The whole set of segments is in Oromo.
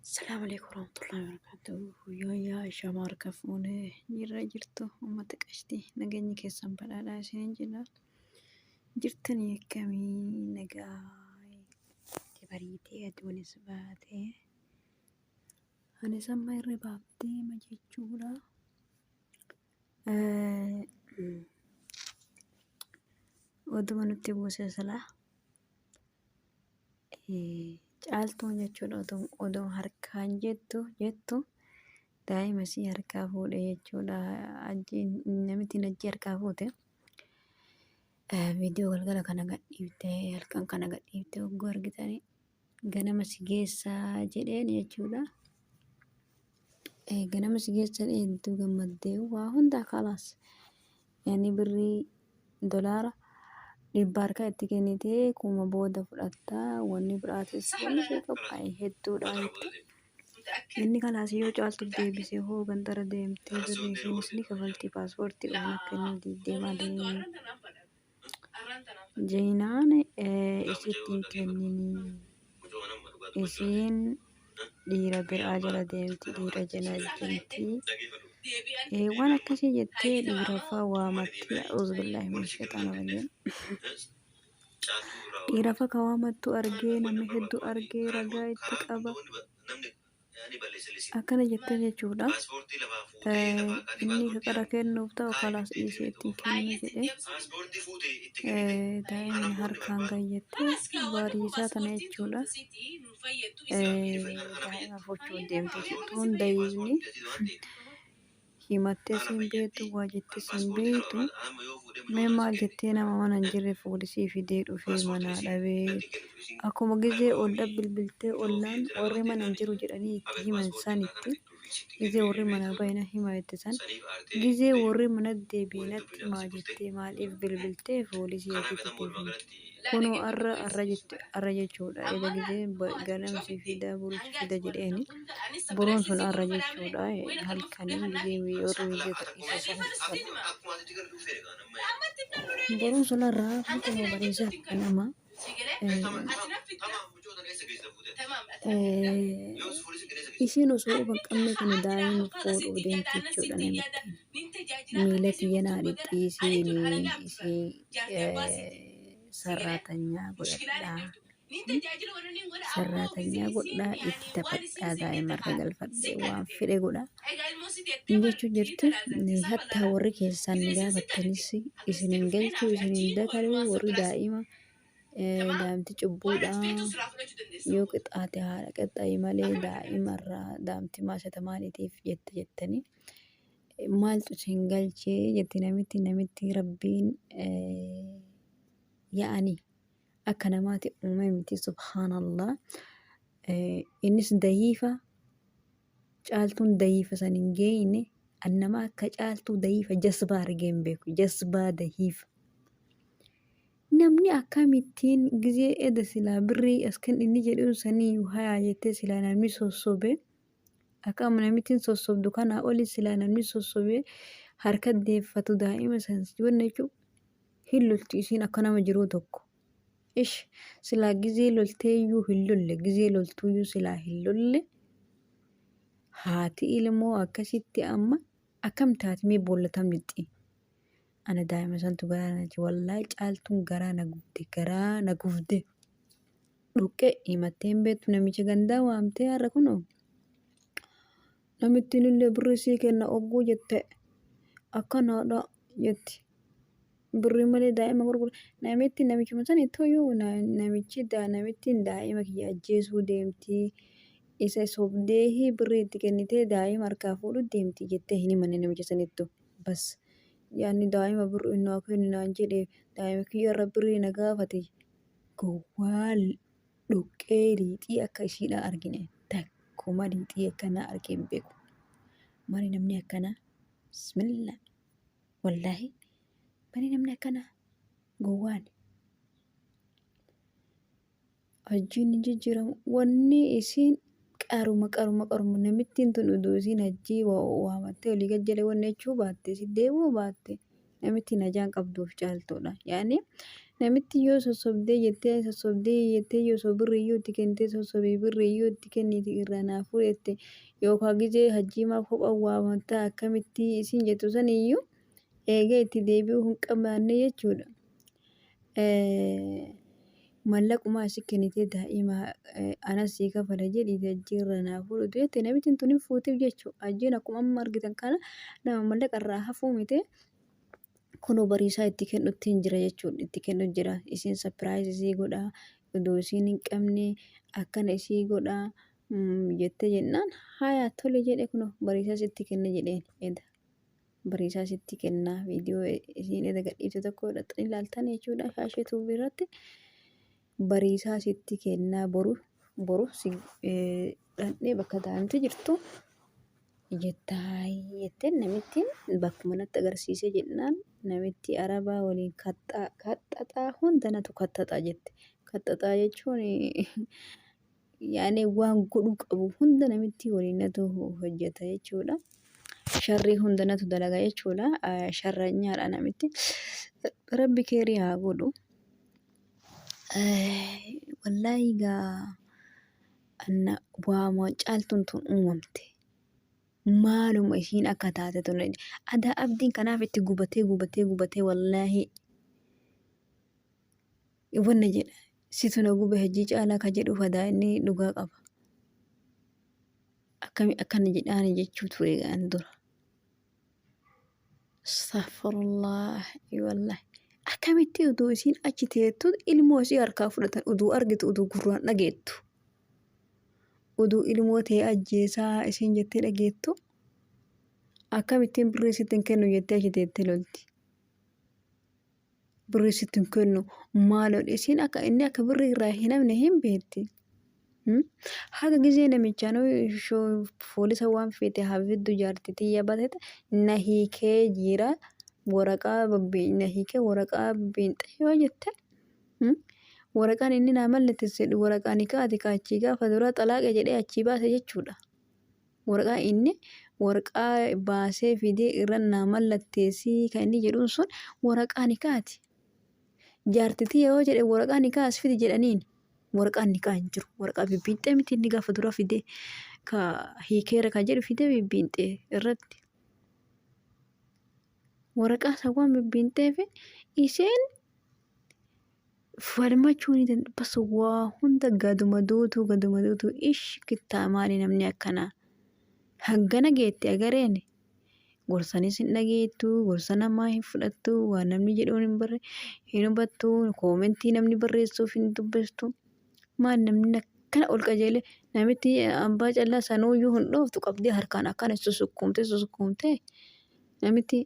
Assalamu alaikum warahmatullahi wabarakatuh. Yooyyaa Ishaama harka fuunee jirra jirtu uummata qashtii nageenyi keessan badhaadhaa isiniin jenna. Jirtanii akkamii nagaa itti bariitee aduunis baatee anis amma irra baaftee ma jechuudha. Oduma nutti buuse silaa caaltuun jechuudha oduma harkaan jettu jettu daa'ima isii harkaa fuudhe jechuudha ajjiin namittiin ajjii harkaa fuute viidiyoo galgala kana gadhiifte halkan kana gadhiifte hogguu argitanii ganama si geessaa jedheen jechuudha. Eh, ganama si geessa jedhee hedduu gammaddee waa hundaa kalaas yani birrii dolaara dhibba harka itti kennitee kuma booda fudhatta wanni biraatis wanni ishee qophaa'e hedduudha jette. Inni kalaas yoo caaltu deebisee hoo gandara deemtee birrii ishiinis ni kafalti paaspoortii waan akka inni diiddeemaa deemee. Jeenaan isitti hin kenninii. Isiin dhiira biraa jala deemti dhiira jala deemti. Eh, Waan akkasii jettee dhiiraffaa waamattee uzbillahi min shexaana rajiim. Dhiirafa ka waamattu argee namni hedduu argee ragaa itti qaba. akkana jettee jechuudha inni fiqira kennuuf ta'u kalaas dhiisee ittiin kennu jedhee daa'imni harkaan gayyattee baadiyyisaa tana jechuudha daa'ima fuuchuuf deemte jechuun daa'imni himattee siin beektu waa jettee siin beektu mee maal jettee nama mana hin jirre fuudhisii fidee dhufee manaa dhabee akkuma gizee ol dhabbilbiltee ollaan warri mana hin jiru jedhanii itti himan sanitti gizee warri manaa baay'ina himaa itti san gizee warri mana deebiinatti maa jettee maaliif bilbiltee fuudhisii ofii fidee Kunu arra arra jette arra jechuudha ega gizee ganam si fida buru si fida jedheeni buruun sun arra jechuudha halkanii gizee warri wiidiyoo gadhiisa san san buruun sun arra halkanii bariisaa kanama isiin osoo uban qabne kun daa'ima fuudhuu deemti jechuudha namitti miila kiyya naa dhidhiisiini isii sarraatanyaa godhadhaa sarraatanyaa godhaa itti taphadhaa daa'imarra galfadhee waan fedhe godha hin jechuu jirti hattaa warri keessaan ni gaafattanis isin hin galchuu isin hin dataruu warri daa'ima daa'imti cubbuudha yoo qixaate haadha qaxxayi malee daa'imarraa daa'imti maashata maaliitiif jette jettanii Maaltu isin galche jetti namitti namitti rabbiin yaa'ani akka namaati uume miti subhaanallah. Innis dayiifa caaltuun dayiifa san hin geeyne an nama akka caaltuu dayiifa jasbaa argee hin beeku jasbaa dayiifa. Namni akkamittiin gizee eda silaa birrii askan inni jedhuun sanii hayaa jettee silaa namni sossobee. Akam namitin sosobdu kana oli sila namni sosobe harka defatu daima san siwon jechu hin loltu isin akka nama jiru tokko. Ish sila gize lolte yu hin lolle gize loltu yu sila hin lolle hati ilmo akkasitti amma akam tati me bolla tam lixi. Ana daa'ima santu garaa na nyaate. Wallaahi caaltuun garaa na gubde. Garaa na gubde. Dhoqqee himattee hin beektu namicha gandaa waamtee har'a kunoo. Namittiin illee birrii sii kenna ogguu jette akkanaadha jetti. Birrii malee daa'ima gurgura. Namitti namichuma sana ittooyyuu namichi namittiin daa'ima kiyya ajjeesuu deemti. Isa sobdee birrii itti kennitee daa'ima harkaa fuudhu deemti jettee hin himanne namicha sanittu. bas yaanni daa'ima birru hin naa kenni naan jedhe daa'ima kiyya irra birrii na gaafate gowwaa dhoqqee liixii akka ishiidhaa argine takkuma liixii akkanaa argee hin beeku mali namni akkanaa bismillah wallaahi mali namni akkanaa gowwaan Hajjiin hin jijjiiramu. Wanni isiin qaruma qaruma qaruma namittiin tun uduu isiin hajjii waamattee olii gad jedhee wanni jechuu baatte si deebi'uu baatte namittiin hajaan qabduuf caaltuudha. Yaani namitti yoo sossobdee jettee sossobdee jettee yoo osoo birri iyyuu itti kennitee sossobee birri iyyuu itti kenniti irraa naa fuudhe jette yookaan gizee hajjii maaf kopha waamatta akkamittii isiin jettu san iyyuu eegee itti deebi'uu hin qabaanne jechuudha. Mallaquma si kennitee daa'ima anas sii kafala jedhiiti hajjii irra naa fuudhu jette namitiin tun hin fuutiif jechuu hajjiin akkuma amma argitan kana nama mallaqa irraa hafuu miti kunoo bariisaa itti kennutti hin jira jechuun itti kennu jira isiin sapiraayizii sii godha odoo isiin hin qabne akkana isii godha jette jennaan haayaa tole jedhe kunoo bariisaas itti kenna jedheen eda. Bariisaa sitti kenna viidiyoo isiin erga gadhiifte tokko dhaxxanii ilaaltan jechuudha shaashee tuubii irratti bariisaa sitti kenna boru boru si dhaqnee bakka taa'amte jirtu jettaay jetteen namittiin bakkuma natti agarsiisee jennaan namitti arabaa waliin kaxxaa kaxxaxaa hunda natu kaxxaxaa jette kaxxaxaa jechuun yaani waan godhu qabu hunda namitti waliin natu hojjeta jechuudha. Sharrii hunda natu dalaga jechuudha. Sharranyaadha namitti. Rabbi keerii haa godhu. Wallaahi gaa anna waama caaltuun tun uumamte. Maaluma ishiin akka taate tun adaa abdiin kanaaf itti gubatee gubatee gubatee wallaahi wanna jedha situ na gube hajjii caalaa ka jedhuuf adaa inni dhugaa qaba akkami akkana jedhaani jechuu ture an dura astaghfirullah wallah akkamitti uduu isiin achi teettu ilmoo isii harkaa fudhatan uduu argitu uduu gurraan dhageettu uduu ilmoo tee ajjeesaa isiin jettee dhageettu akkamittiin birrii sitti hin kennu jettee achi teettee lolti birrii sitti hin kennu maaloo dhisiin akka inni akka birrii irraa hin hafne hin beekti. Hmm? Haga gizee namichaan poolisa waan feete hafiddu jaartii tiyya batete na hiikee jira waraqaa babbi- na hiikee waraqaa biinxee yoo jette hmm? waraqaan inni naa mallatteessedhu waraqaa nikaa ati kaachii gaafa duraa xalaaqe jedhee achii baase jechuudha. Waraqaa inni waraqaa baasee fidee irra naa mallatteessii kan inni jedhuun sun waraqaa nikaati. Jaartitii yoo jedhe waraqaa nikaa as fidi jedhaniin waraqaa nikaa hin jiru. Waraqaa bibbiinxee miti inni gaafa dura fidee ka hiikeera kan jedhu fidee bibbiinxee irratti. Waraqaa isa waan bibbiinxee fi isheen falmachuu ni danda'a. Bas waa hunda gaduma duutuu gaduma duutuu ish kittaa maali namni akkanaa. Hangana geetti agareen gorsanis hin dhageettu gorsa namaa hin fudhattu waan namni jedhuun hin barre hin hubattu koomentii namni barreessuuf hin dubbistu. Maal namni akkana ol qajeele namitti ambaa callaa sanuuyyuu hin dhooftu qabdee harkaan akkana susukkuumtee susukkuumtee namitti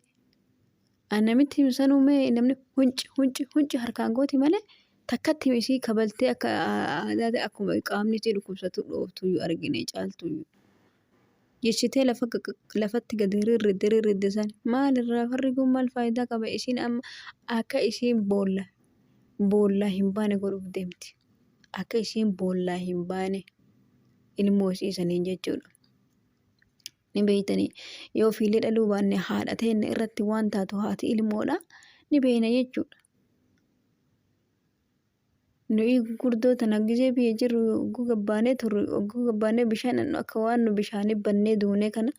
An namitti himi sanuu mee namni hunci hunci hunci harkaan gooti malee takkatti himi isii kabaltee akka aadaati akkuma qaamni isii dhukkubsatu dhooftu iyyuu argine caaltu iyyuu. Jechitee lafa lafatti gadi rirridde rirridde san maal irraa farri kun maal faayidaa qaba isiin amma akka isiin boolla boollaa hin baane godhuuf deemti. Akka isiin boollaa hin baane ilmoo isii saniin jechuudha. ni beeytanii yoo ofiillee dhaluu baanne haadha teenna irratti waan taatu haati ilmoodha ni beeyna jechuudha. Nuyi gurguddoo tana gizee biyya jirru ogguu gabbaanee turre ogguu gabbaanee bishaan dhannu akka waan nu bishaanii bannee duunee kana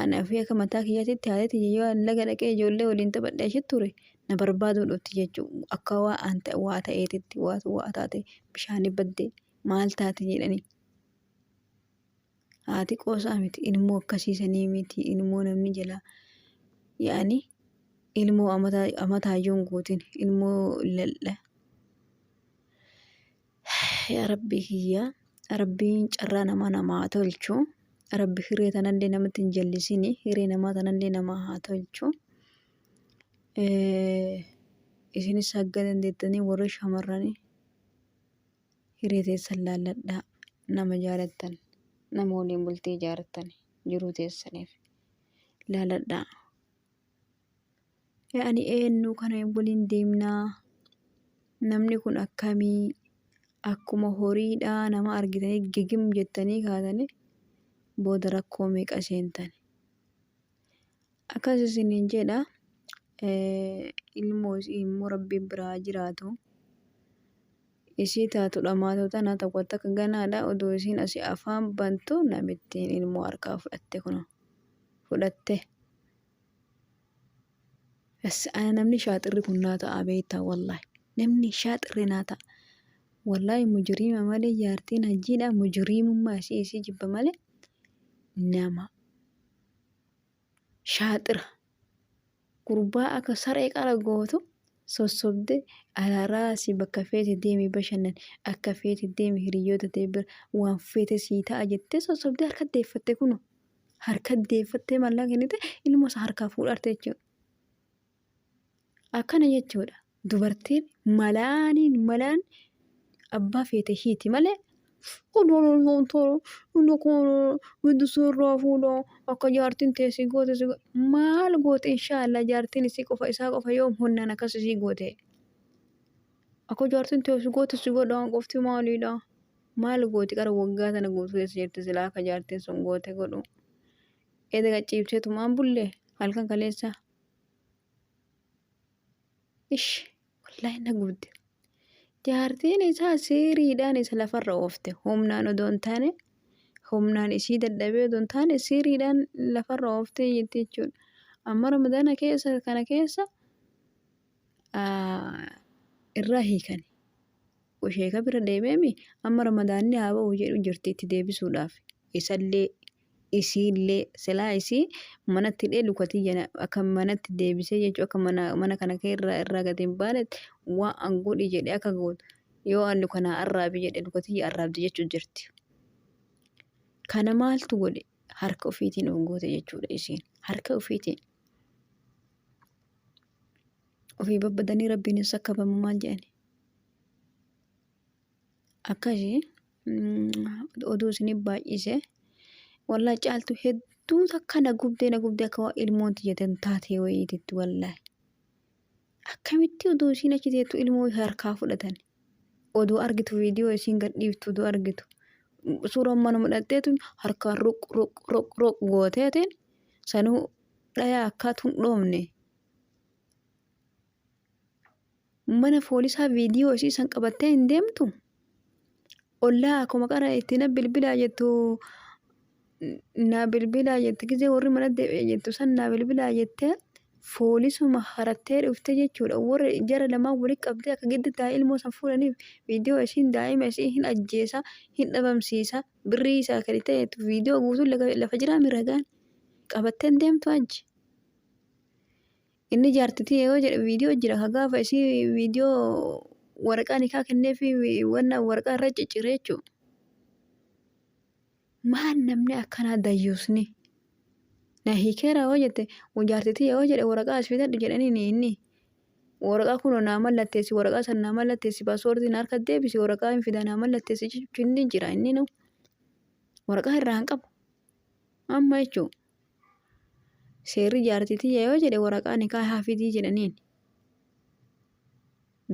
anaa fi akka mataa kiyyaatitti haati tiyya yoo an laga dhaqee ijoollee waliin taphadhe achi ture na barbaaduu dhufti jechuu akka waa an ta'e waa ta'eetitti waa waa taate bishaanii badde maal taate jedhanii. haa xiqoosaa miti ilmoo akkasiisanii miti ilmoo namni jalaa yaani ilmoo amataayyoon guutin ilmoo laldha yaa rabbii kiyyaa rabbiin carraa namaa namaa tolchu rabbi hiree tanallee namatti hin jallisini hiree namaa tanallee namaa haa tolchu isinis hagga dandeettanii warri shamarranii Hiree teessan laalladhaa nama jaalattan nama waliin bultii ijaartan jiruu teessaniif laaladhaa. Yaani eenyu kana waliin deemnaa namni kun akkamii akkuma horiidhaa nama argitanii gigim jettanii kaatanii booda rakkoo meeqa seentani. Akkas isiniin jedha, ilmoo isii immoo Rabbiin bira haa jiraatu. Isii taatu dhamaatu tana tokko takka ganaadha. Odoo isiin asii afaan bantu namittiin ilmoo harkaa fudhatte kuno. Fudhatte. Bas ana namni shaaxirri kun naa ta'a beektaa wallaahi. Namni shaaxirri naa ta'a. Wallaahi mujiriima malee jaartiin hajjiidha mujiriimummaa isii isii jibba malee nama shaaxira gurbaa akka saree qara gootu sossobde alaraasi bakka feete deemi bashannan akka feete deemi hiriyyoota ta'e bira waan feete sii ta'a jettee sossobde harka deeffatte kuno harka deeffattee mallaqa kennite ilmoo isaa harkaa fuudharte jechuudha. Akkana jechuudha. Dubartiin malaaniin malaan abbaa feete hiiti malee odoon hontoo inni kun giddu suurraa fuudha akka jaartiin tee si goote si goote maal goote inshaallah jaartiin isii qofa isaa qofa yoo honnaan akkas isii goote akka jaartiin tee si goote si godhaan qofti maaliidha maal gooti qara waggaa sana guutuu keessa jirti silaa akka jaartiin sun goote godhu eeda gachiibsee tumaan bulle halkan kaleessa. Ish wallahi na gubde. Jaartiin isaa siiriidhaan isa lafarra oofte. Humnaan odoo hin taane humnaan isii dadhabee odoo hin taane siiriidhaan lafarra oofte jetti jechuudha. Amma ramadaana keessa kana keessa irraa hiikani. Sheeka bira deemeemi amma ramadaanni haa ba'u jedhu jirti itti deebisuudhaaf. Isallee isiillee silaa isii manatti hidhee luka tiyya na- akka manatti deebisee jechuu akka mana mana kana kee irraa irraa gad hin baanetti waan an godhi jedhe akka gootu yoo an luka naa arraabi jedhe luka tiyya arraabdi jechuu jirti. Kana maaltu godhe harka ofiitiin of goote jechuudha isiin harka ofiitiin. Ofii babbadanii rabbiin hin sakkabamu maal jedhani. Akkasi oduu isinif baay'ise wallahi caaltu hedduu takka na gubdee na gubdee akka waan ilmoon tiyya tan taatee wayiititti wallahi. Akkamitti oduu isiin achi teettu ilmoo harkaa fudhatan oduu argitu viidiyoo isiin gad dhiiftu oduu argitu suuraa manuma dhaqxeetu harkaan ruq ruq ruq ruq gooteetiin sanuu dhayaa akkaatu hin dhoofne. Mana foolisaa viidiyoo isii san qabattee hin deemtu? Ollaa akkuma qara itti na bilbilaa jettu na bilbilaa jette gizee warri mana deebi'e jettu san na bilbilaa jette foolisuma harattee dhufte jechuudha. Warri jara lamaan walitti qabdee akka giddi taa ilmoo san fuudhaniif viidiyoo isiin daa'ima isii hin ajjeesa hin dhabamsiisa birrii isaa kennitee jettu viidiyoo guutuun lafa jiraa miragaan qabattee hin deemtu hajji. Inni jaarti tiyya yoo jedhe viidiyoo jira ka gaafa isii viidiyoo waraqaa nikaa kennee fi wanna waraqaa irra ciccire jechuudha. Maan namni akkanaa dayyuusni? Na hiikeera yoo jette jaarti tiyya yoo jedhe waraqaa as fidadhu jedhaniin inni. Waraqaa kunoo naa mallatteessi waraqaa san naa mallatteessi paaswoordii na harka deebisi waraqaa hin fidaa naa mallatteessi jechuun inni jira inni nu. Waraqaa irraa hin qabu. Amma jechuun seerri jaartii tiyya yoo jedhe waraqaa nikaa haa fidii jedhaniin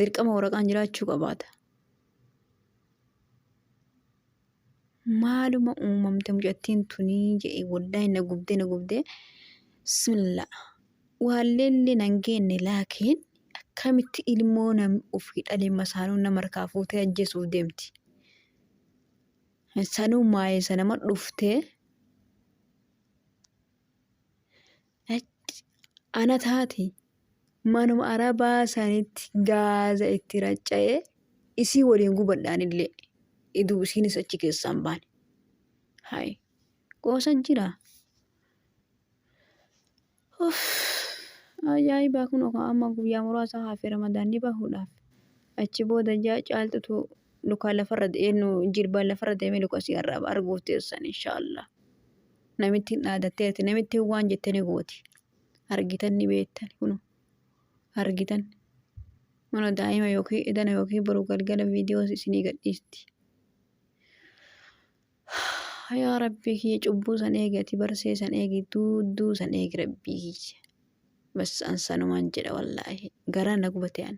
dirqama waraqaan jiraachuu qabaata. Maaluma uumamte mucattiin tunii jedhe wallahi na gubdee na gubdee bismillah waalleellee nan geenne laakiin akkamitti ilmoo namni ofii dhalee masaanuu nama harkaa fuutee ajjeesuuf deemti. Sanuu maayee sanama dhuftee ana taati manuma arabaa sanitti gaaza itti racca'ee isii waliin gubadhaan illee iduu isiinis achi keessaan baane. Hayi qoosa jira. Uff ajaa'ibaa kunoo kaa amma guyyaa muraasa hafe ramadaanni bahuudhaaf. Achi booda jaa caaltutu lukaa lafarra eenyu jilbaan lafarra deemee luka si arraaba arguuf teessan inshaallah. Namittiin dhaadatteerti namittiin waan jette ni gooti. Argitan ni beektan kunoo argitan. Mana daa'ima yookiin edana yookiin boru galgala viidiyoo isinii gadhiisti. Yaa rabbii kiyya cubbuu san eegi ati barsee san eegi duudduu san eegi rabbii kiyya. Bas an sanumaan jedha wallaahi garaa na gubate an.